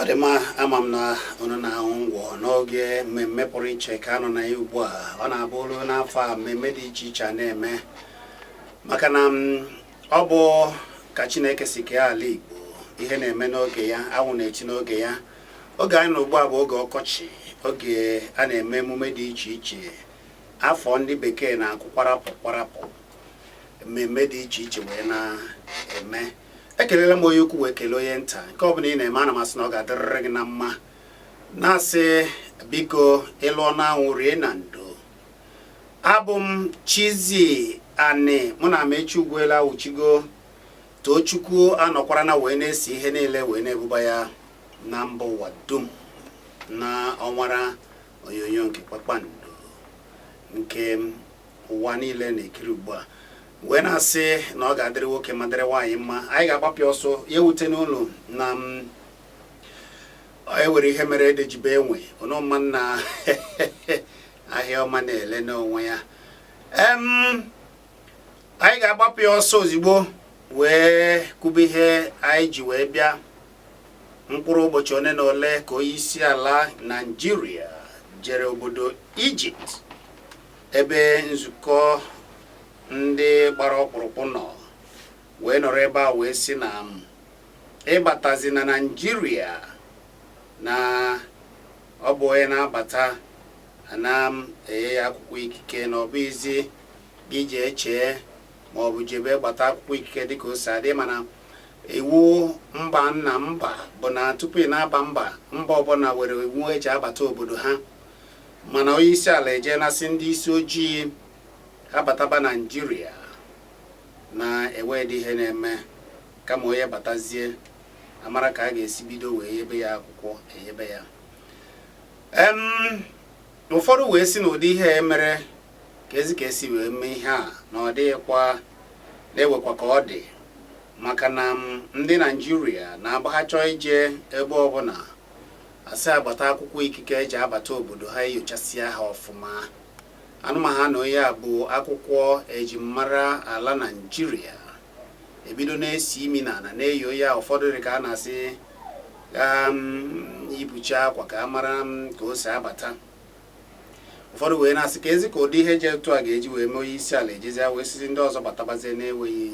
ọ dị mma ama m na unu na-aṅụ ngwọ n'oge mmemme pụrụ iche ka a nọ na ya ugbu a ọ na-abụ o lu n'afọ a mmemme dị iche iche a na-eme maka na m, ọ bụ ka chineke si kee ala igbo ihe na-eme n'oge ya anwụ na-eti n'oge ya oge anyị nọ ugbu a bụ oge ọkọchị oge a na-eme emume dị iche iche afọ ndị bekee na-akụ kwarapụ kwarapụ mmemme dị iche iche wee na-eme ekelela m onye ukwu wee kelee onye nta nke ọ bụla ị na-eme ana m asị na ọ ga-adịrịrị gị na mma na-asị biko ị lụọ n'anwụ rie na ndo abụ m Chizzy Ani mụ na Amechi Ugwuela awụchigo Tochukwu anọkwara na wee na-ese ihe niile wee na-ebuba ya na mba ụwa dum na ọwara onyonyo nke kpakpando nke ụwa niile na-ekiri ugbu a wee na-asị na ọ ga-adịrị nwoke ma dịrị nwaanyị mma anyị ga-agbapịa ọsọ ya ewute n'ụlọ na e nwere ihe mere ede ji bee nwii unu ma na ahịa ọma na-ele n'onwe ya anyị ga-agbapụ ya ọsọ ozigbo wee kwube ihe anyị ji wee bịa mkpụrụ ụbọchị one na ole ka onye isi ala naijiria jere obodo ijipt ebe nzukọ ndị gbara ọkpụrụkpụ nọ wee nọrọ ebe a wee sị na ịbatazi na naijiria na ọ bụ onye na-abata ana m enye ya akwụkwọ ikike na ọ bụghịzi gị jee chee ma ọ bụ jebe gbata akwụkwọ ikike dịka o si adị mana iwu mba na mba bụ na tupu ị na-aba mba mba ọbụla were iwu eji abata obodo ha mana onye isi ala ejee na-asị ndị isi ojii abataba naijiria na enweghị ihe na-eme kama onye batazie a mara ka a ga-esi bido wee yebe ya akwụkwọ eyebe ya ụfọdụ wee sị na ụdị ihe e mere ka ezi ka esi wee mee ihe a na ọ dịghịkwa na ewekwa ka ọ dị maka na ndị naijiria na-agbagha chọọ ije ebe ọbụla a sị agbata akwụkwọ ikike eji abata obodo ha enyochasịa ha ọfụma anụma ha na onye a bu akwụkwọ eji mara ala naijiria ebido na-esi imi na ala na-eyo ya ụfọdụ dị ka a na-asị um, ibucha akwa ka a mara um, ka o si abata ụfọdụ wee na-asị keezi ka ụdị ihe dị etu a ga-eji wee mee onye isi ala ejizie wee sịzi ndị ọzọ batabazie na-enweghị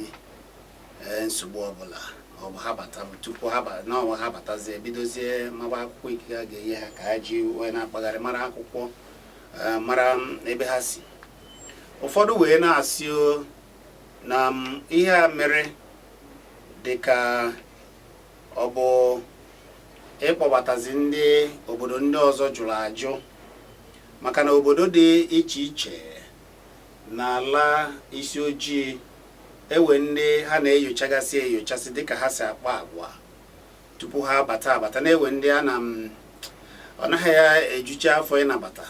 eh, nsogbu ọbụla ọ bụ ha bata tupu ha n'ọnwa ha batazie bidozie maba akwụkwọ ikike a ga-enye ha ka ha ji wee na-akpagharị mara akwụkwọ eh, mara mm, ebe ha si ụfọdụ wee na-asị na mm, ihe a mere dị ka ọ bụ ịkpọbatazi ndị obodo ndị ọzọ jụrụ ajụ maka na obodo dị iche iche n'ala isi ojii e nwe ndị ha na-enyochagasị enyochasị dịka ha si akpa agwa tupu ha abata abata na e nwe ndị a na ọ naghị ya ejucha afọ ịnabata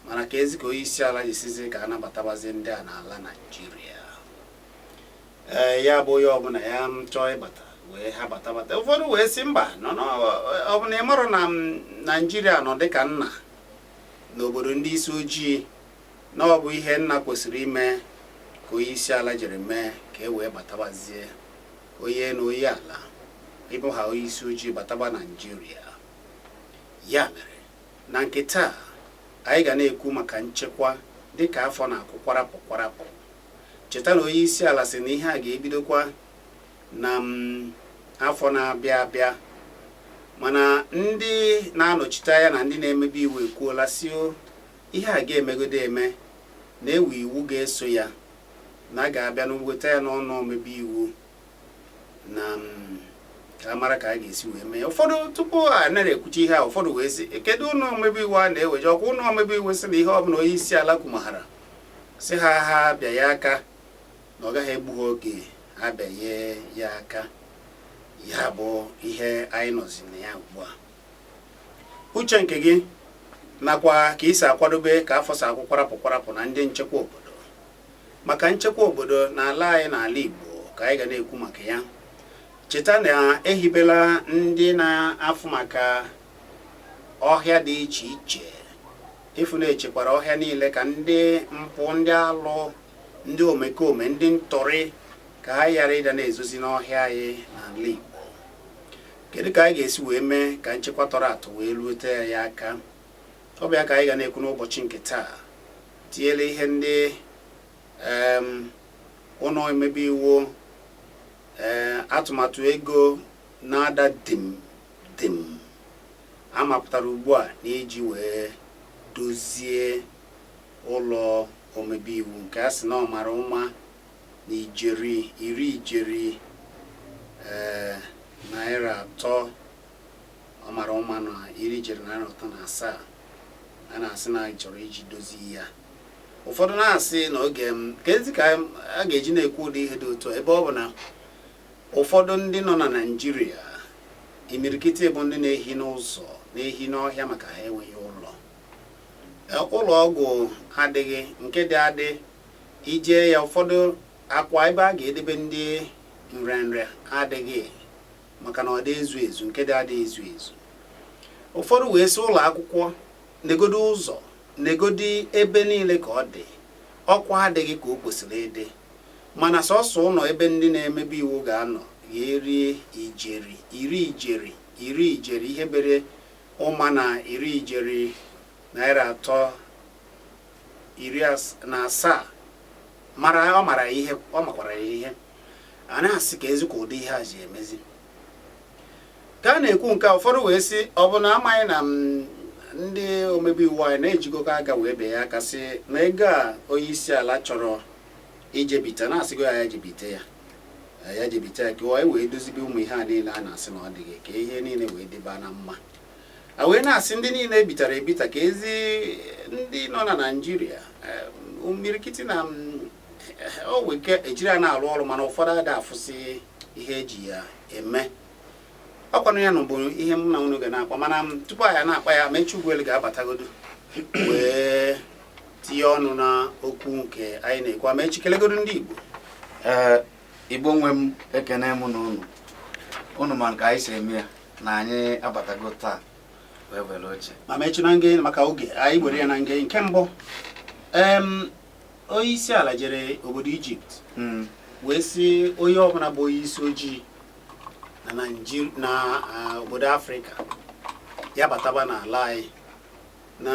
mana keezi ka onye isi ala ji sịzi ka a nabatabazi ndị a n'ala Naịjirịa ee ya bụ onye ọbụla ya m chọọ ịbata wee ha bata bata ụfọdụ wee sị mba no no, ọ bụ na ị marọ na m, naijiria nọ dịka nna n'obodo ndị isi ojii na ọ bụ ihe nna kwesịrị ime ka onye isi ala jiri mee ka e wee batabazie onye na onye ala ịbụ ha onye isi ojii bataba naijiria ya mere na nke taa anyị ga na-ekwu maka nchekwa dịka afọ na-akwụ kwarapụ kwarapụ Cheta na onyeisiala sị na ihe a ga-ebidokwa na m afọ na-abịa abịa mana ndị na-anọchite anya na ndị na-emebe iwu ekwuola sị o ihe a ga-emegodo eme na e nwe iwu ga-eso ya na a ga-abịa na weta ya n'ụnọ omebe iwu na mm, ka a mara ka a ga-esi wee mee ụfọdụ tupu a na-ekwucha ihe a ụfọdụ wee sị kedu ụlọ omebe iwu a na-eweje ọ kwa ụlọ omebe iwu sị na ihe ọbụla onye isi ala kwumaghara sị ha ha bịa ya aka na ọ gaghị egbu ha oge ha bịanye ya aka ya bụ ihe anyị nọzi na ya ugbu a uche nke gị nakwa ka i si akwadobe ka afọ si akwụ kwarapụ kwarapụ na ndị nchekwa obodo maka nchekwa obodo na ala anyị na ala Igbo ka anyị ga na-ekwu maka ya cheta na e hibela ndị na-afụ maka ọhịa dị iche iche ịfụ na e chekwara ọhịa niile ka ndị mpụ ndị alụ ndị omekome ndị ntọrị ka ha ghara ịda na-ezozi n'ọhịa anyị n'ala Igbo kedu ka anyị ga-esi wee mee ka nchekwa tọrọ atọ wee rute ya aka ọ bụ ya ka anyị ga na-ekwu n'ụbọchị nke taa tinyere ihe ndị ụlọ omebe iwu eh, atụmatụ ego na-ada dim dim a mapụtara ugbu a n'iji wee dozie ụlọ omebe iwu nke a sị na ọ mara ụma na ijeri iri ijeri eh, naira atọ ọ mara ụma na iri ijeri naira atọ na asaa a na-asị na a chọrọ iji dozie ya ụfọdụ na-asị na oge kezi ka a ga-eji na-ekwu ụdị ihe dị otu ebe ọ bụ na ụfọdụ ndị nọ na naijiria imirikiti bụ ndị na-ehi n'ụzọ na-ehi n'ọhịa maka ha enweghị ụlọ e, ụlọ ọgwụ adịghị nke dị adị i jee ya ụfọdụ akwa ebe a ga-edebe ndị nrịanrịa adịghị maka na ọ dị ezu ezu nke dị adị ezu ezu ụfọdụ wee sị ụlọ akwụkwọ negodi ụzọ negodi ebe niile ka ọ dị ọkwa adịghị ka o kwesịrị ịdị mana sọsọ ụlọ ebe ndị na-emebe iwu ga-anọ ga-erie ijeri iri ijeri iri ijeri ihe bere ụma na iri ijeri naira atọ na asaa mara ọ mara ihe ọ makwara ya ihe a na-asị kezikwa ụdị ihe a ji emezi ka a na-ekwu nke a ụfọdụ wee sị ọ bụ na amaghị na ndị omebe iwu anyị na ejikọgo aka wee bee ya aka sị na ego a onye isi ala chọrọ ijebite na asịgo ya ya jebite ya ya jebite ya ka anyị wee dozibe ụmụ ihe a niile a na-asị na ọ dịghị ka ihe niile wee dịba na mma a wee na-asị ndị niile ebitara ebita kezi ndị nọ na naijiria eh, imirikiti na mm, o nwere ike ejiri ya na-arụ ọrụ mana ụfọdụ ada afụsị ihe eji ya eme ọkwanụ ya na bụ ihe m na unu ga na-akpa mana tupu anyị na-akpa ya Amaechi Ugwuelu ga-abatagodo wee tinye ọnụ na okwu nke anyị na-ekwu Amaechi kelegodo ndị Igbo ee Igbo nwe m ekene m na unu unu ma ka anyị si eme ya na anyị abatago taa wee were oche ma Amaechi na nge maka oge anyị were ya na nge nke mbụ Onye isi ala jere obodo Ijipt hmm. wee sị onye ọbụla bụ onye isi ojii na ah, obodo Afrịka ya bataba n'ala anyị na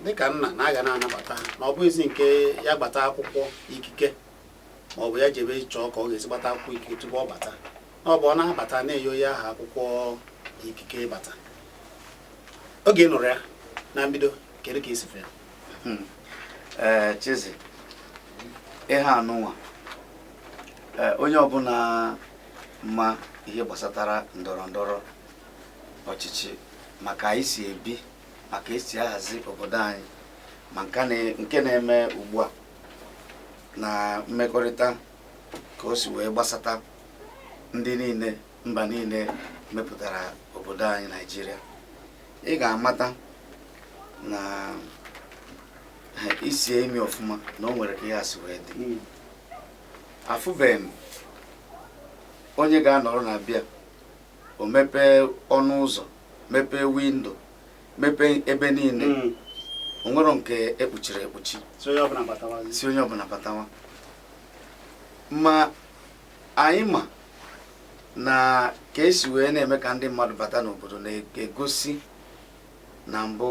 dịka nna na a ga na-anabata na ọ bụghịzi nke ya gbata akwụkwọ ikike ma ọ bụ ya jebe chọọ ka ọ ga-esi gbata akwụkwọ ikike tupu ọ bata na ọ bụ ọ na-abata na-enye onye aha akwụkwọ ikike ịbata oge ị nụrụ ya na mbido kedu ka i si fụ ya Hmm. ee eh, Chizzy ihe a nụnwa eh, onye ọbụla ma ihe gbasatara ndọrọ ndọrọ ọchịchị ma ka anyị si ebi ma ka e si ahazi obodo anyị ma nke na-eme ugbu a na mmekọrịta ka o si wee gbasata ndị niile mba niile mepụtara obodo anyị naijiria ị ga-amata na i sie imi ọfụma na o nwere ka ihe a si wee dị hmm. afụbeghị m onye ga-anọrọ na be ya o mepee ọnụ ụzọ mepee windo mepee ebe niile hmm. o nwerọ nke ekpuchiri ekpuchi sị onye ọbụla batawa ma anyị ma na ka esi wee na-eme ka ndị mmadụ bata n'obodo na-egosi na mbụ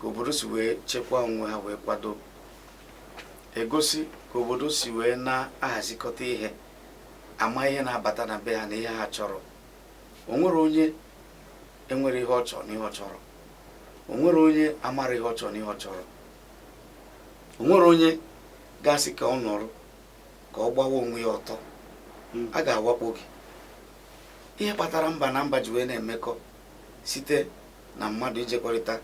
ka obodo si wee chekwaa onwe ha wee kwado egosi ka obodo si wee na-ahazikọta ihe ama ihe na-abata na be ha na ihe ha chọrọ onwere onye enwere ihe ọ chọrọ na ihe ọ chọrọ onwere onye amara ihe ọ chọrọ na ihe ọ chọrọ onwere onye ga-asị ka ọ nọrọ ka ọ gbawa onwe ya ọtọ hmm. a ga-awakpo gị ihe kpatara mba na mba ji wee na-emekọ site na mmadụ ijekọrịta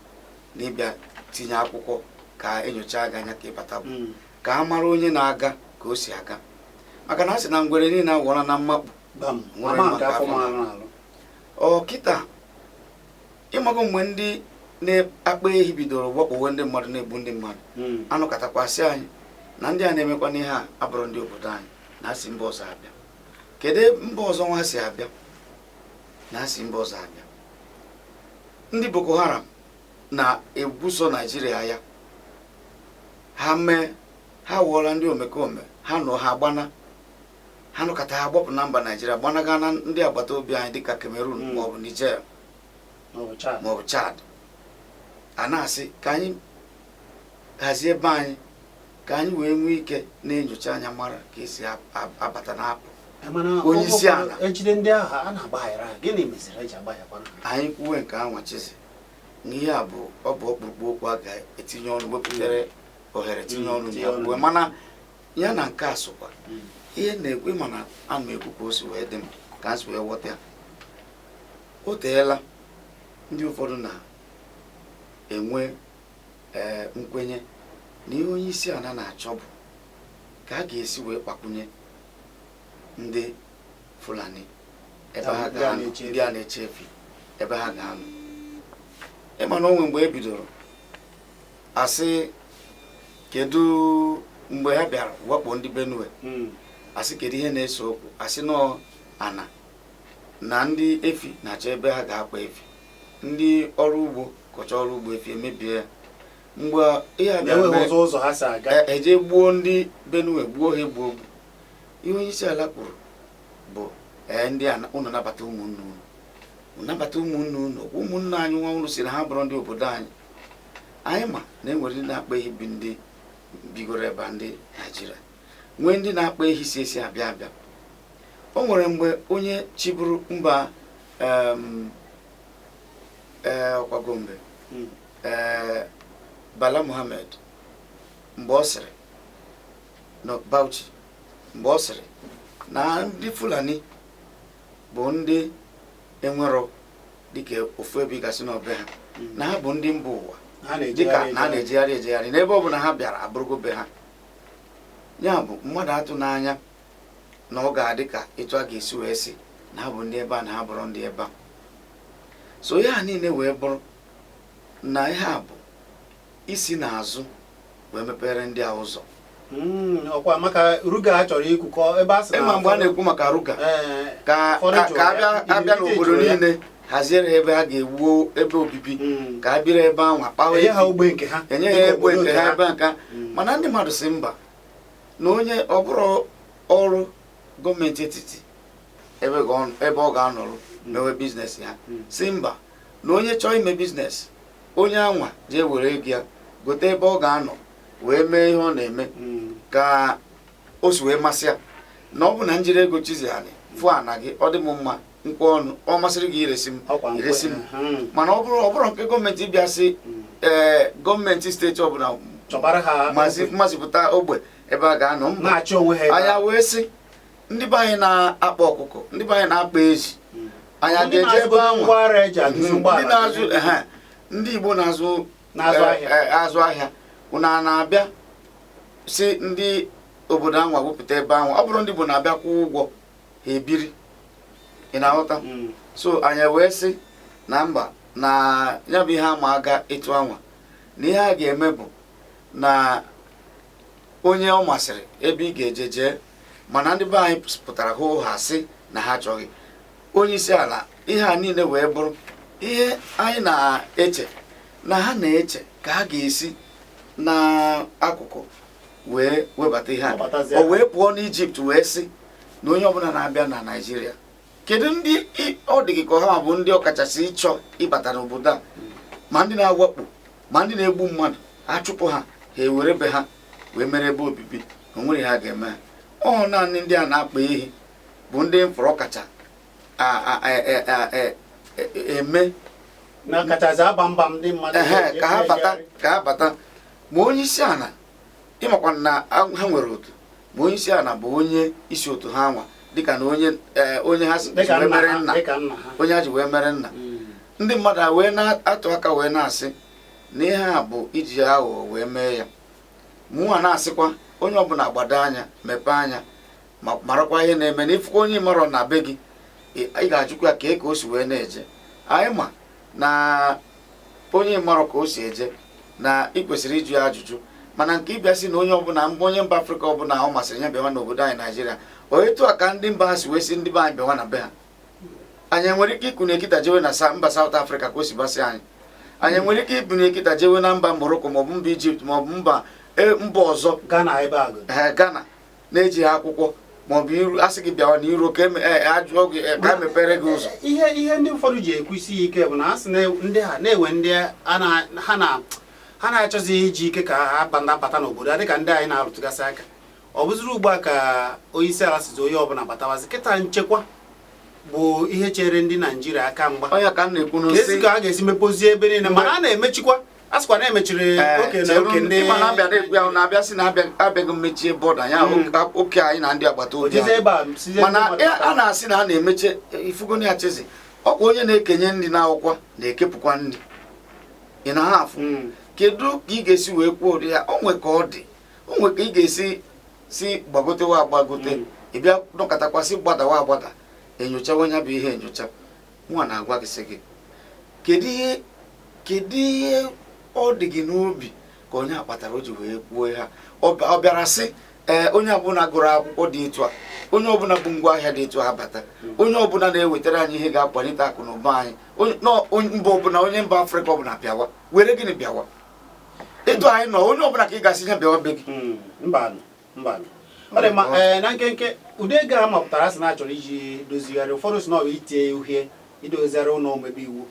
na ịbịa tinye akwụkwọ ka enyochaa gị anya ka ịbata bụ hmm. ka a mara onye na-aga ka o si aga maka na a sị na ngwere niile awụọla na mmakpu kịta ịmago mgbe ndị na-akpa ehi bidoro wakpowe ndị mmadụ na-egbu ndị mmadụ hmm. a nọkatakwa sị anyị na ndị a na-emekwanụ ihe a abụrọ ndị obodo anyị na ha si mba ọzọ abịa kedu mba ọzọ nwa si abịa na ha si mba ọzọ abịa ndị Boko Haram na-ebuso Naijiria agha ha mee ha wụọla ndị omekome ha nọ ha gbana ha nọkata ha gbapụ na mba naijiria gbanaga na ndị agbata obi anyị dịka cameroon hmm. maọbụ niger maọbụ chad a na-asị ka anyị hazie ebe anyị ka anyị wee nwee ike na-enyocha anya mara ka esi abata na-apụ onye isi ala ejide ndị ahụ a na-agbaghara ha gịnị meziri eji agbaghakwa anyị kwuwe nke a nwa chizi na ihe a bụ ọ bụ ọkpụrụkpụ okwu a ga-etinye ọnụ wepụtara ohere tinye ọnụ na ya mana ya na nke a sokwa ihe na-ekwu ịma na a ma ekwu ka o si wee dị m ka m si wee ghọta ya o teela ndị ụfọdụ na-enwe ee eh, nkwenye na ihe onye isi ala na-achọ bụ ka a ga-esi wee gbakwunye ndị Fulani ebe ha ga-anọ ndị a na-eche efi ebe ha ga-anọ ịma na o nwe mgbe e bidoro asị kedu mgbe ha bịara wakpo ndị benue hmm. asị kedu ihe na-ese okwu asị na ọ ana na ndị efi na-achọ ebe ha ga-akpa efi ndị ọrụ ugbo kọcha ọrụ ugbo efi emebie ya mgbe ihe a bịara eje e gbuo ndị benue gbuo ha ogbugbu ihe onye isi ala kwuru bụ ee ndị a unu nabata ụmụnne unu nabata ụmụnne unu ụmụnne anyị nwa unu si na ha bụrụ ndị obodo anyị anyị ma na e nwere ndị na-akpa ehi bụ ndị bigoro ebe a ndị naijiria nwee ndị na-akpa ehi si ezi abịa abịa o nwere mgbe onye chịburu mba em, eh, ọkwa gombe Mm. eh, bala muhammed mgbe ọ sịrị na bauchi mgbe ọ sịrị na ndị fulani bụ ndị enwero dịka ofu ebe ị ga-asị na ọ be ha hmm. na ha bụ ndị mba ụwa dịka na ha na-ejegharị ejegharị n'ebe ọ bụla ha bịara abụrụgo be ha ya bụ mmadụ atụna anya na ọ ga-adị ka etu a ga-esi wee sị na ha bụ ndị ebe a na ha bụrụ ndị ebe a so ihe a niile wee bụrụ na ihe a bụ isi n'azụ wee mepere ndị a ụzọ hmm, ọkwa maka ruga a chọrọ ikwu ebe a sị na ịma mgbe a na-ekwu maka ruga eh, ka abịa n'obodo niile haziere ha ebe ha ga-ewuo ebe obibi hmm. ka ha biri ebe ahụ akpawa enye ha ogbe nke ha ebe nka hmm. mana ndị mmadụ si mba na onye ọ bụrọ ọrụ gọọmenti etiti ebe ọ ga-anọrụ mewe biznes ya si mba na onye chọọ ime biznes onye anwa jee were ego ya gote ebe ọ ga-anọ wee mee ihe ọ na-eme hmm. ka o si wee masị ya na ọ bụ na m jiri ego chizi anyị fụ ana gị ọ dị m mma m kwe ọnụ ọ masịrị gị iresi m iresi m hmm. mana ọ bụrọ nke gọọmenti bịa sị hmm. ee eh, gọọmenti steeti ọbụla mazipụta ogbe ebe a ga-anọ mba anyị wee sị ndị be anyị na-akpa ọkụkọ ndị be anyị na-akpa ezi anyị Ndị aga-eje ebe na-azụgodo anwa ngwa ahịa eji arụzi ndị ụgbọala na-azụ ehe, ndị igbo na-azụ Na-azụ eh, ahịa. eh, azụ ahịa unu a na-abịa si ndị obodo anwa wepụta ebe anwa ọ bụrụ ndị igbo na-abịa kwụọ ụgwọ ha ebiri ị na-aghọta Mm. so anyị wee sị na mba na ya bụ ihe ama aga etu anwa na ihe a ga-eme bụ na onye ọ masịrị ebe ị ga-eje jee mana ndị be anyị pụtara hoo haa sị na ha achọghị onye isi ala ihe a niile wee bụrụ ihe anyị na-eche na ha na-eche ka ha ga-esi n'akụkụ wee webata ihe a o wee pụọ n'ijipt wee sị na onye ọbụla na-abịa na naijiria kedu ndị ọ dị gị ka ha bụ ndị ọkachasị ịchọ ịbata n'obodo a ma ndị na-awakpo ma ndị na-egbu mmadụ achụpụ ha ha ewere be ha wee mere ebe obibi o nwere ihe a ga-eme ha ọ naanị ndị a na-akpa ehi bụ ndị m fụrụ kacha eme na kachasị agba mba ndị mmadụ ka ha bata ka ha bata ma onye isi ala ị makwa na ha nwere otu ma onye isi ala bụ onye isi otu ha nwa dịka na onye eh, onye ha ji wee mere nna onye ha ji wee mere nna ndị mmadụ wee na-atụ aka wee na-asị na ihe a bụ iji aghụghọ wee mee ya mụnwa na-asịkwa onye ọbụla gbado anya mepee anya ma marakwa ihe na-eme na ị fụkwa onye marọ na be gị ị ga-ajụkwa ya kee ka o si wee na-eje anyị ma na onye marọ ka o si eje na ị kwesịrị ịjụ ya ajụjụ mana nke ịbịa sị na onye ọbụla mba onye mba afrịka ọbụla ọ masịrị ya bịawa n'obodo anyị naijiria ọ etu a ka ndị mba a si wee sị ndị be anyị bịawa na be ha anyị enwere ike ikunie kịta jewe na mba saụt afrịka ka o si basị anyị anyị nwere ike ikunie kịta jewe na mba moroko maọbụ mba ijipt maọbụ mba e, mba ọzọ ghana na-ejighị akwụkwọ ma ọ bụ iru a sị gị bịawa na iru ka ajụọ gị ka e mepere gị ụzọ ihe ihe ndị ụfọdụ ji ekwusi ya ike bụ na asị ndị ha na-enwe ndị ha na ha na-achọzi iji ike ka ha bata n'obodo a dịka ndị anyị na-arụtụgasị aka ọ bụziri ugbu a ka onye isi ala sịzị onye ọbụla batawazi kịta nchekwa bụ ihe chere ndị naijiria aka mgba keezi ka a ga-esi mepozie ebe niile mana a na-emechikwa a sịkwa na e mechiri eh, oke na oke ndị ịma na-abịa na-ekwu ya na-abịa sị na abịaghị mmechie bọda ya hmm. oke anyị na ndị agbata obi mana a na-asị na a na-emeche ị fụgonụ ya Chizzy ọkwa onye na-ekenye nri n'akwụkwọ na-ekepụkwa nri ị na-afụ hmm. kedu ka ị ga-esi wee kwuo ụdị ya o nwe ka ọ dị o nwe ka ị ga-esi sị gbagotewa agbagote hmm. ị bịa nọkatakwa sị gbadawa agbada e nyochawa nya bụ ihe enyocha nwa na-agwa gị sị gị kedu ihe kedu ihe ọ dị gị n'obi ka ọ nya kpatara o ji wee kwuo ihe a ọ bịara sị ee onye ọbụla gụrụ akwụkwọ dị etu a onye ọbụla bu ngwa ahịa dị etu a bata onye ọbụla na-ewetara anyị ihe ga-akwalite akụ na ụba anyị mba ọbụla onye mba afrịka ọbụla bịawa were gịnị bịawa etu anyị nọ onye ọbụla ka ị ga-asị ya bịawa be gị hmm, Eh, na nkenke ụdị ego a mapụtara a sị na a chọrọ iji dozigharị ụfọdụ sị na ọbụ itinye uhie idozigharị ụlọ omebe iwu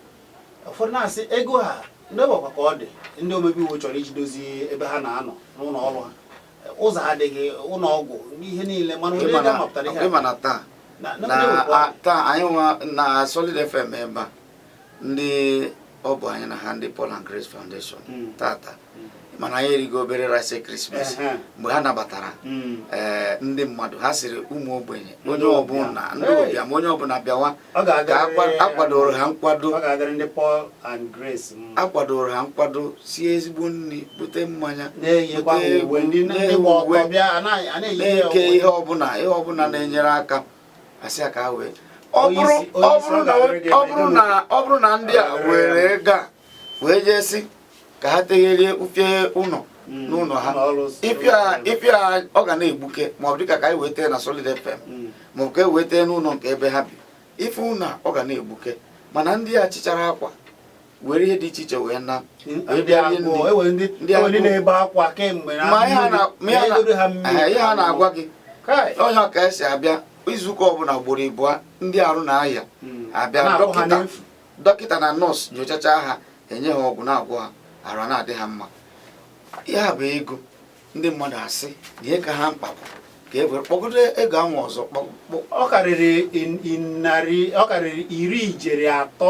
ụfọdụ na-asị ego a ndị ọgbakwa ka ọ dị ndị omebe iwu chọrọ iji dozie ebe ha na-anọ n'ụlọ ọrụ ha ụzọ adịghị ụlọ ọgwụ na ihe niile mana ụdị ego a mapụtara ihe na taa anyị nwa na Solid FM ebe a ndị ọ bụ anyị na ha ndị Paul and Grace Foundation hmm. tata hmm. mana anyị erigo obere rice Christmas mgbe ha nabatara hmm. eh, ndị mmadụ ha sịrị ụmụ ogbenye onye ọbụla ndị ụbịam onye ọbụla bịawa ka akwadoro ha nkwado akwadoro ha nkwado sie ezigbo nri bute mmanya na-eke ihe ọbụla ihe ọbụla na-enyere aka asị ya ka ha wee ọ bụrụ na ndị a were ego a wee jee sị ka ha tegherie ufie ụlọ hmm. n'ụlọ ha ịfụ ya ọ ga na-egbuke maọbụ dịka ka anyị wee tee na Solid FM hmm. maọbụ ka e wee tee n'ụlọ nke ebe ha bi ife ụlọ ọ ga na-egbuke mana ndị a chịchara akwa were ihe dị iche iche wee na-enye ha na-agwa gị onye ọka esi abịa izuụka ọbụla ugboro ịbụa ndị arụ na-aya hmm. abịa dọkịta na nọọsụ nyochacha ha enye ha ọgwụ na-agwọ ha arụ na-adị ha mma ya bụ ego ndị mmadụ asị na ihe ka ha mkpa bụ ka e were kpọgodo ego ahụ ọzọ ọ karịrị iri ijeri atọ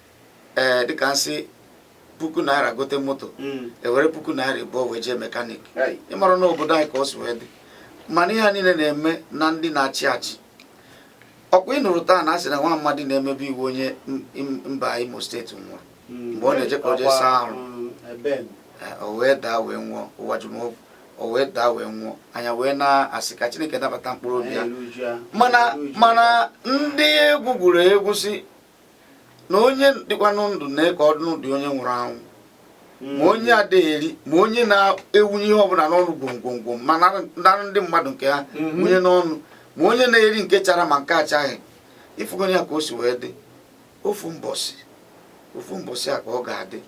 ee eh, dịka nsị puku naira gote moto hmm. ewere puku naira ịbụọ wee jee mekanik ịmara na obodo anyị ka o si wee dị mana ihe a niile na-eme na ndị na-achị achị ọkwa ị nụrụ taa na asị na nwa amadị na-emebe iwu onye mba Imo steeti nwụrụ hmm. mgbe ọ na-eje ka o jee saa arụ hmm, eh, o wee daa wee nwụọ Uwajumogu o wee daa wee nwụọ anyị wee na-asị ka Chineke nabata mkpụrụ obi ya mana mana ndị egwu gwuru egwu sị na onye dịkwanụ ndụ na ka ọ dị onye nwụrụ anwụ ma onye adịghị eri ma onye na-ewunye ihe ọbụla n'ọnụ gwomgwomgwom ma nara ndị mmadụ nke ha mhm. wunye n'ọnụ ma onye na-eri nke chara ma nke achaghị ịfụgonụ ya ka o si wee dị ofu mbọsị ofu mbọsị a ka ọ ga-adị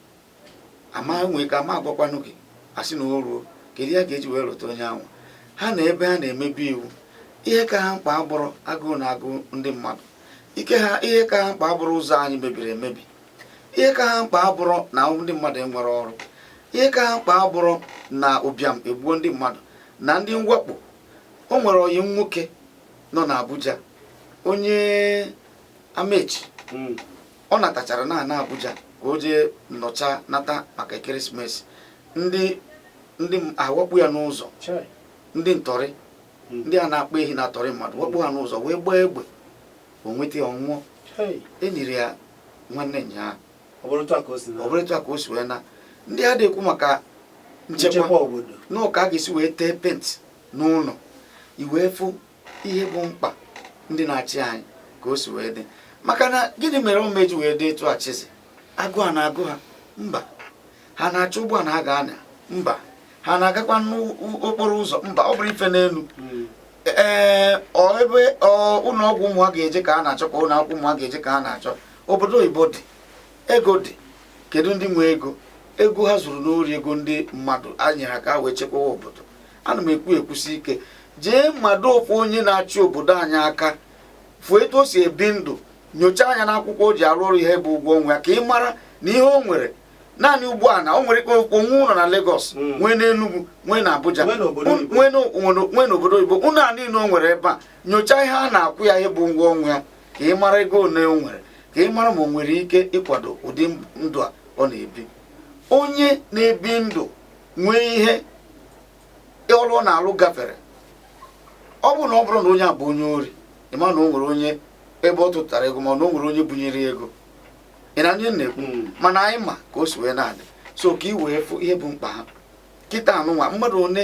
ama nwee ike ama agwakwanụ gị asị na o ruo kedu ihe a ga-eji wee rota onye ahụ ha na ebe ha na-emebe iwu ihe ka ha mkpa abụrụ agụụ na-agụ ndị mmadụ ihe ka ha mkpa abụrụ ụzọ anyị mebiri emebi ihe ka ha mkpa abụrụ na ndị mmadụ enwere ọrụ ihe ka ha mkpa abụrụ na ụbịam egbuo ndị mmadụ na ndị mwakpo o nwere ọyị m nwoke nọ n'Abuja onye Amechi hmm. ọ natachara na na Abuja ka o jee nnọcha nata maka Christmas ndị ndị awakpo ya n'ụzọ ndị ntọrị hmm. ndị a na-akpa ehi na-atọrị mmadụ wakpo ha n'ụzọ wee gbaa egbe o nweta ya ọ nwụọ enyere ya nwanne ya ọ bụrụ etu a ka o si wee naa ndị a adịghị ekwu maka nchekwa na ọ ka a ga-esi wee tee penti n'ụlọ i wee fụ ihe bụ mkpa ndị na-achị anyị ka o si wee dị maka na gịnị mere ọ ma eji wee dị etu a Chizzy agụụ a na-agụ ha mba ha na-achọ ụgbọana ha ga-anya mba ha na-agakwa n'okporo ụzọ mba ọ bụrụ ife n'elu hmm. ee ebe ụlọ ọgwụ ụmụ ha ga-eje ka ha na-achọ ka ụlọ akwụkwọ ụmụ ha ga-eje ka ha na-achọ obodo oyibo dị ego dị kedu ndị nwe ego ego ha zuru n'ori ego ndị mmadụ a nyere ha ka ha wee chekwawa obodo ana m ekwu ekwusi ike jee mmadụ ofu onye na-achị obodo anyị aka fụ etu o si ebi ndụ nyochaa anya n'akwụkwọ o ji arụ ọrụ ihe bụ ụgwọ ọnwa ya ka ị mara na ihe o nwere naanị ụgbọana o nwere eziokwu nwee ụlọ na Lagos Mm. nwee n'Enugu nwee na Abuja Nwee n'obodo un- oyibo. nwee n'o- nwere- nwee n'obodo oyibo ụlọ a niile o nwere ebe a nyochaa ihe a na-akwụ ya ihe bụ ụgwọ ọnwa ya ka ị mara ego ole o nwere ka ị mara ma o nwere ike ịkwado ụdị ndụ a ọ na-ebi onye na-ebi ndụ nwee ihe ọrụ ọ na-alụ gafere ọ bụrụ na ọ bụrụ na onye a bụ onye ori ị ma na o nwere onye ebe ọ tụtara ego ma na o nwere onye bunyere ego ị na onye na-ekwu hmm. mana anyị ma ka o si wee na-adị so ka ị wee fụ ihe bụ mkpa ha kịtaa nunwa mmadụ one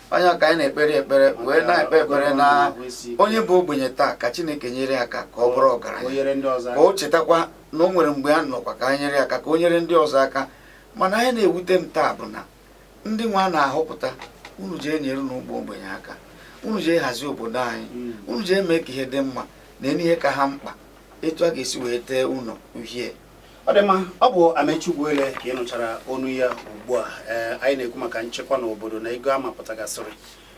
onye ka anyị na-ekpere ekpere wee na-ekpe ekpere na onye bụ ogbenye taa ka chineke nyere ya aka ka ọ bụrụ ọgaranya ka o chetakwa na o nwere mgbe ya nọkwa ka anyị nyere ya aka ka o nyere ndị ọzọ aka mana ihe na-ewute m taa bụ na ndị nwa a na-ahọpụta unu jee nyerenụ ụmụ ogbenye aka unu jee hazie obodo anyị hmm. unu jee mee ka ihe dị mma neenụ ihe ka ha mkpa etu a ga-esi wee tee ụlọ uhie ọ dị mma ọ bụ Amechi Ugwuele ka ị nụchara onu ya ugbu a ee anyị na-ekwu maka nchekwa n'obodo na ego a mapụtagasịrị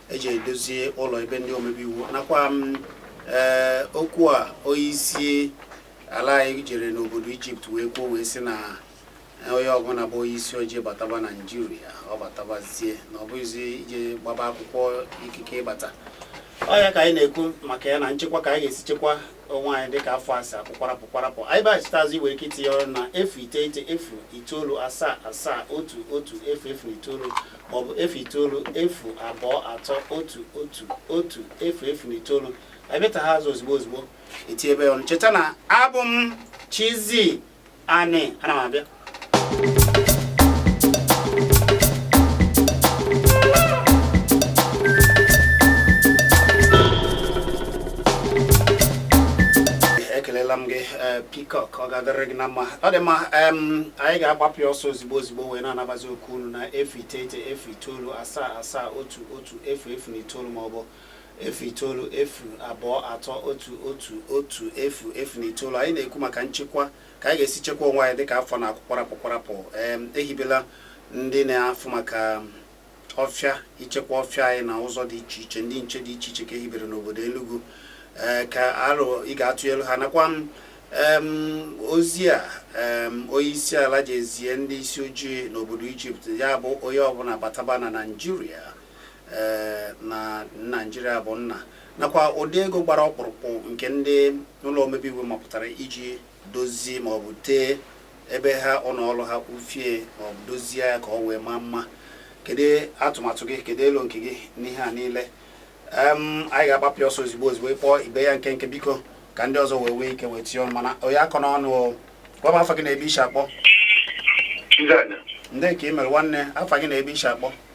eji edozie ụlọ ebe ndị omebe iwu nakwa m ee okwu a onye isi ala anyị jere n'obodo Ijipt wee kwuo wee sị na onye ọbụla bụ onye isi ojii bataba Naijiria ọ batabazie na ọ bụghịzi ije gbaba akwụkwọ ikike ịbata ọ ya ka anyị na-ekwu maka ya na nchekwa ka anyị ga-esi chekwa onwe anyị dịka afọ asaa kpụkwarapụ kwarapụ anyị bịaghachitazi i nwere ike itinye ọnụ na efu iteghete efu itoolu asaa asaa otu otu efu efu na itoolu maọbụ efu itoolu efu abụọ atọ otu otu otu efu efu na itoolu anyị bịata ha azụ ozigbo ozigbo i tinyebe ọnụ cheta na abụ m Chizzy Anị ana m abịa ekelela m gị eh, Peacock ọ ga-adịrị gị na mma ọ dị mma anyị ga-agbapụ ya ọsọ ozigbo ozigbo wee na-anabazi oku unu na efu iteghete efu itoolu asaa asaa otu otu efu efu na itoolu maọbụ efu itoolu efu abụọ atọ otu otu otu efu efu na itoolu anyị na-ekwu maka nchekwa ka anyị ga-esi chekwa onwe anyị dịka afọ na-akwụ kwarapụ kwarapụ ehibela ndị na-afụ maka ọfịa ichekwa ọfịa anyị na ụzọ dị iche iche ndị nche dị iche iche ka ehibere n'obodo Enugu eh, ka aro ị ga-atụnyelu ha nakwa ozi a onye isi ala jee zie ndị isi ojii n'obodo Ijipt ya bụ onye ọbụla bataba na Naịjirịa eh, na naijiria bụ nna nakwa ụdị ego gbara ọkpụrụkpụ nke ndị ụlọ omebe iwu mapụtara iji dozie maọbụ tee ebe ha ụnọ ọlụ ha ufie maọbụ dozie ya ka ọ wee maa mma kedu atụmatụ gị kedu elo nke gị n'ihe a niile anyị ga-agbapụ ọsọ ozugbo ozugbo ị kpọọ i mee ya nkenke biko ka ndị ọzọ wee nwee ike wee tinye ọnụ mana onye akọ n'ọnụ gwa m afa gị na ebe i si akpọ ndị ka ị mere nwanne afa gị na ebe i si akpọ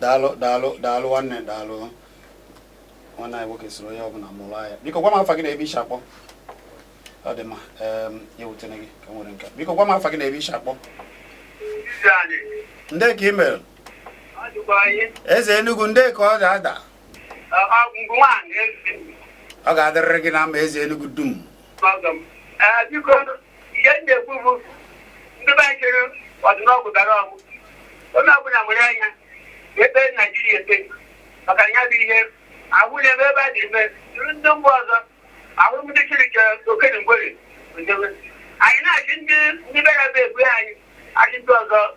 daalụ daalụ daalụ nwanne daalụ nwanne anyị nwoke soro onye ọbụla mụrụ anya biko gwa m afa gị na ebe i si akpọ ọ dị mma ya wutene gị ka nwere nke biko gwa m afa gị na ebe i si akpọ ndị ka ị mere eze Enugu ndị ka ọ ga-ada ọ ga-adịrịrị gị na mma eze Enugu dum Ọgọ m, ee, biko ihe m na-ekwu bụ ndị be anyị chere ọdịnọgwụ gara ọgwụ onye ọbụla nwere anya ebe Naijiria ete maka ya bụ ihe ahụ na-ebe ebe a na-eme jụrụ ndị mba ọzọ ahụ ndị chirike okenye mgbere ndewe anyị na-achị ndị ndị be ya bụ egbu anyị achị ndị ọzọ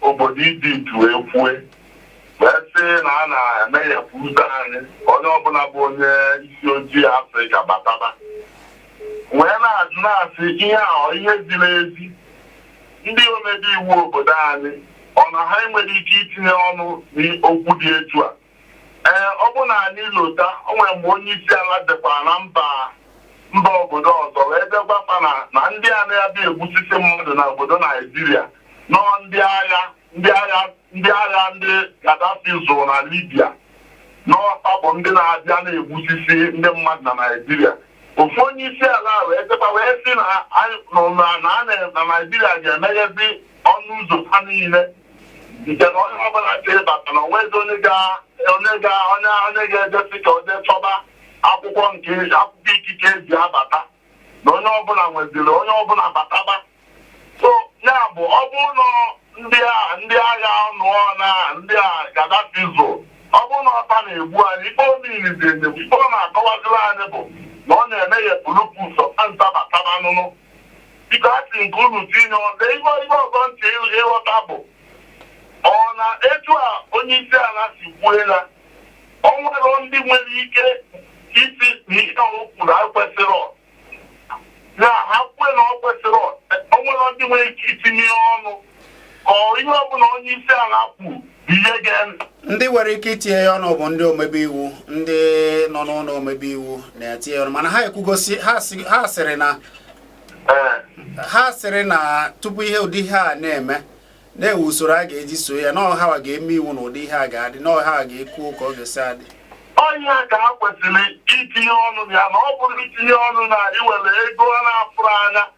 obodo Ijipt wee kwue wee sị na a na-emeghepụ ụzọ anyị ka onye ọbụla bụ onye isi ojii Afrịka bataba wee na-ajụ na-asị ihe a ọ ihe ziri ezi ndị omebe iwu obodo anyị ọ na ha enwerọ ike itinye ọnụ n'okwu dị etu a ee ọ bụ na anyị lota o nwere mgbe onye isi ala jekwara na mba mba obodo ọzọ wee jee gwakwa fa na na ndị a na-abịa egbusisi mmadụ na obodo naijiria na ọ ndị agha ndị agha ndị agha ndị Gaddafi zụrụ na Libya na ọ fa bụ ndị na-abịa na-egbusisi ndị mmadụ na Naịjirịa ofu onye isi ala wee jekwa wee sị na na Naịjirịa ga-emeghezi ọnụ ụzọ ha niile nke na onye ọbụla nke ịbata na onwezi onye ga onye ga onye onye ga-eje sị ka o jee chọba akwụkwọ nke akwụkwọ ikike eji abata na onye ọbụla nweziri onye ọbụla bataba so ya bụ ọ bụrụ na ndị a ndị agha nụnwa ndị a Gaddafi zụrụ ọ bụrụ na ọ fa na-egbu anyị ife o mere izizi ife ọ na-akọwaziri anyị bụ na ọ na-emeghepụlụ fa ụzọ ka fa bataba nụnụ Biko a sị m ka unu tinye ọnụ. Lee ihe ihe ọzọ m chọrọ ịl- ịghọta bụ ọ na etu a onye isi ala si kwue na o nwere ndị nwere ike ịsị na ihe o kwuru a kwesịrị ọ. na ha kwue na ọ kwesịrị ọ. o nwere ndị nwere ike itinye ọnụ ka ọ- ihe ọbụla onye isi ala kwuru ndị nwere ike itinye ya ọnụ bụ ndị omebe iwu ndị nọ n'ụlọ omebe iwu na-etinye ọnụ mana ha ekwugo sị ha sịrị na ha sịrị na tupu ihe ụdị ihe a na-eme na-enwe usoro a ga-eji so ya na ọ ha ga-eme iwu na ụdị ihe a ga-adị na ọ ha ga-ekwu ka ọ ga-esi adị onye ka ha kwesịrị itinye ọnụ ya na ọ bụrụ itinye ọnụ na iwere ego a na-afụrụ anya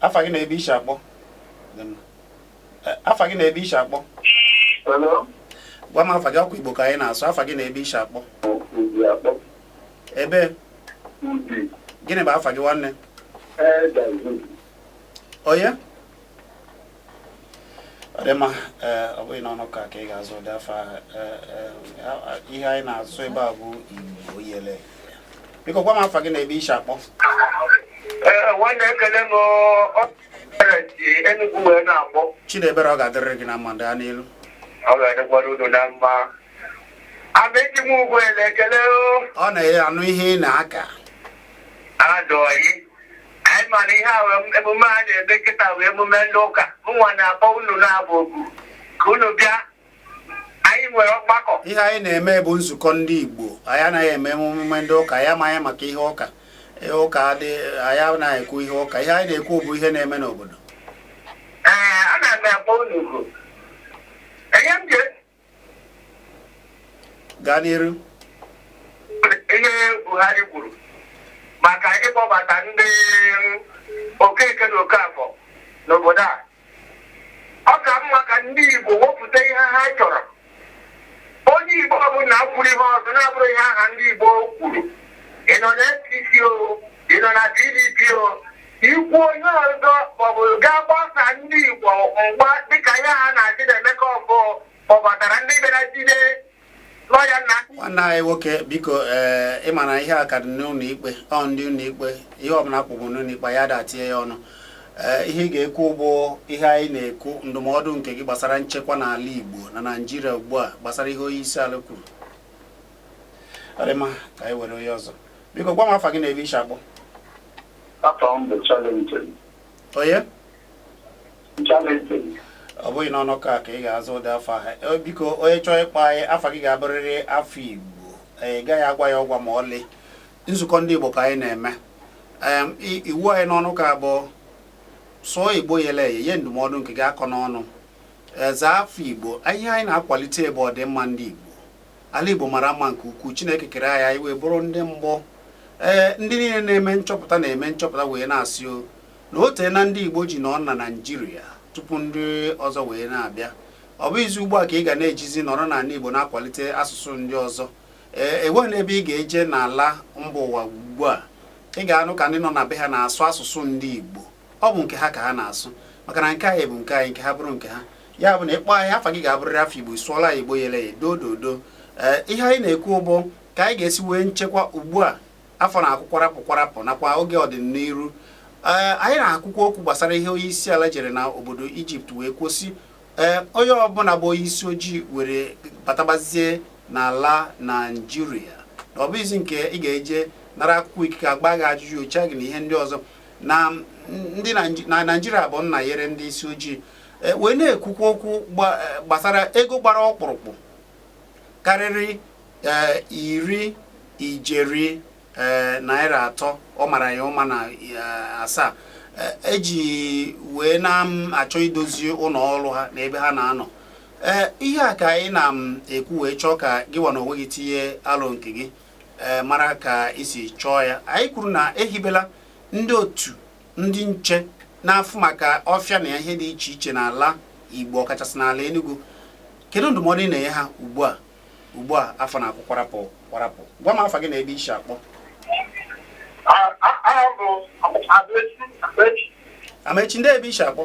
afa gị na ebe i si akpọ afa gị na ebe i si akpọ gwa m afa gị ọ kwa igbo ka anyị na-asụ afa gị na ebe i si akpọ ebe gịnị bụ afa gị nwanne onye ọ dị mma eh, ọ bụghị n'ọnụ ka ka ị ga-azụ ụdị afọ ahụ eh, eh, ihe anyị na-asụ ebe a bụ igbo oyele biko gwa m afa gị na ebe i si akpọ nwanne ekele m Enugu wee na-akpọ Chinebere ọ ga-adịrịrị gị na mma ndị a n'elu ọ ga-adịkwara unu na mma abeji m ugbo ele ekele ọ na-anụ ihe ị na-aka adọghị anyị ma na ihe a wee- emume a na-eme kịta bụ emume ndị ụka mụnwa na-akpọ unu na-abụ oku ka unu bịa anyị nwere ọgbakọ ihe anyị na-eme bụ nzukọ ndị igbo anyị anaghị eme emume ndị ụka anyị amaghị maka ihe ụka ihe ụka adị anyị anaghị ekwu ihe ụka ihe anyị na-ekwu bụ ihe na-eme n'obodo ee ana m akpọ unu oku enye m je gaa n'iru ihe Buhari kwuru maka ịkpọbata ndị Okeke na Okafọ n'obodo a ọ ka mma ka ndị Igbo wepụta ihe ha chọrọ onye Igbo ọbụla kwuru ihe ọzọ na-abụrọ ihe ọha ndị Igbo kwuru ị nọ na APC o ị nọ na PDP o i kwuo ihe ọzọ maọbụ gaa gbaa ndị Igbo mgba dịka ya ha na-asị na Emeka Ọfọ kpọbatara ndị bịara jide lọya Nna nwanne anyị nwoke biko ee eh, ị ma na ihe a ka dị n'ụlọ ikpe ọ ndị ụlọ ikpe ihe ọbụla kpụgbụ n'ụlọ ikpe a da etinye ya ọnụ eh, ihe ị ga-ekwu bụ ihe anyị na-ekwu ndụmọdụ nke gị gbasara nchekwa n'ala Igbo na Naịjirịa ugbu a gbasara ihe onye isi ala kwuru ọ dị mma ka anyị were onye ọzọ biko gwa m afa gị na ebe i si akpọ afa m bụ Valentine onye Valentine ọ bụghị n'ọnụ ka ka ị ga-aza ụdị afa ahụ Eh, biko onye chọọ ịkpọ anyị afa gị ga-abụrịrị afa igbo Eh, ị gaghị agwa ya ọgwa ma ọlị nzukọ ndị igbo ka anyị na-eme Em, i- iwu anyị n'ọnụ ka bụ sụọ igbo yele eye nye ndụmọdụ nke gị akọna ọnụ Eh, zaa afa igbo ihe anyị na-akwalite bụ ọdịmma ndị igbo ala Igbo mara mma nke ukwuu Chineke kere anyị anyị wee bụrụ ndị gboo ee eh, ndị niile na-eme nchọpụta na-eme nchọpụta wee na-asị o na o teena ndị Igbo ji nọ na Naịjirịa tupu ndị ọzọ wee na-abịa ọ bụghịzi ugbu a ka ị ga na-ejizi nọrọ n'ala Igbo na-akwalite asụsụ ndị ọzọ ee eh, enweghị n'ebe ị ga-eje n'ala mba ụwa ugbu a ị ga-anụ ka ndị nọ na be ha na-asụ asụsụ ndị Igbo ọ bụ nke ha ka ha na-asụ maka na nke anyị bụ nke anyị nke ha bụrụ nke ha ya bụ na ị kpọọ anyị afa gị ga-abụrịrị afa igbo sụọla ya igbo yele ya doo doo doo ee ihe anyị na-ekwu bụ ka anyị ga-esi nwee nchekwa ugbu a afọ na-akwụ kwarapụ kwarapụ nakwa oge ọdịnihu ee anyị na-ekwukwa okwu gbasara ihe onye isi ala jere na obodo ijipt wee kwuo sị ee onye ọbụla bụ onye isi ojii were batabazie n'ala naijiria na ọ bụghịzi nke ị ga-eje nara akwụkwọ ikike a gbaa gị ajụjụ nyochaa gị na ihe ndị ọzọ na ndị naijiria bụ nna nyere ndị isi ojii e, wee na-ekwukwa okwu e, gbasara ego gbara ọkpụrụkpụ karịrị e, iri ijeri naira atọ ọ mara ya ụma na asaa eji wee na-achọ idozi ụlọ ọrụ ha na ebe ha na-anọ ee ihe a ka anyị na-ekwu wee chọọ ka gị nwa na onwe gị tinye alo nke gị e, mara ka i si chọọ ya anyị kwuru na ehibela ndị otu ndị nche na-afụ maka ọfịa na ihe dị iche iche n'ala Igbo ọkachasị n'ala Enugu kedu ndụmọdụ ị na-enye ha ugbu a ugbu a afọ na-akwụ kwarapụ kwarapụ gwa m afa gị na ebe i si akpọ Amaechi ndee ebe i si akpọ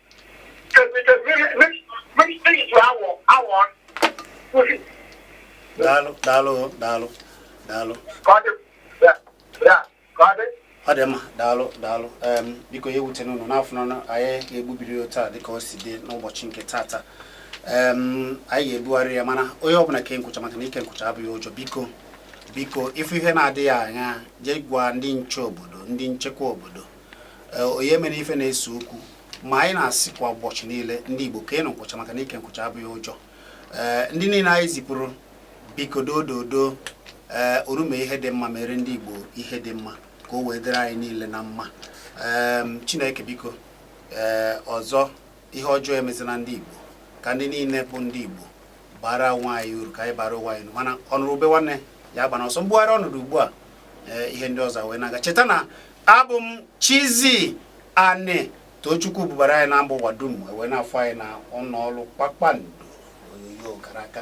daalụ daalụ daalụ daalụ ọ dị mma daalụ daalụ biko ya ewutena unu na ọ n'ọnụ anyị ga-egbubiri ya taa dịka o si dị n'ụbọchị nke tata anyị ga-ebugharị ya mana onye ọbụla ke nkwụcha maka na ike nkwụcha abụghị ụjọ biko biko ị fụ ihe na-adịghị anya jee gwa ndị nche obodo ndị nchekwa obodo onye mere ife na-ese okwu ma anyị na-asị kwa ụbọchị niile ndị Igbo keenụ nkwụcha maka na ike nkwụcha abụghị ụjọ ee ndị niile anyị zipụrụ biko doo doo doo ee orume ihe dị mma meere ndị Igbo ihe dị mma ka o wee dịrị anyị niile na mma ee Chineke biko ee ọzọ ihe ọjọọ emezina ndị Igbo ka ndị niile bụ ndị Igbo baara onwe anyị uru ka anyị baara onwe anyị uru mana ọ nụrụ ube nwanne ya agbana ọsọ m bugharịa ọnọdụ ugbu a ihe ndị ọzọ wee na-aga cheta na abụ m Chizzy Ani Tochukwu bubara anyị na mba ụwa dum e wee na-afụ anyị na ụlọ ọrụ Kpakpando onyonyo kara aka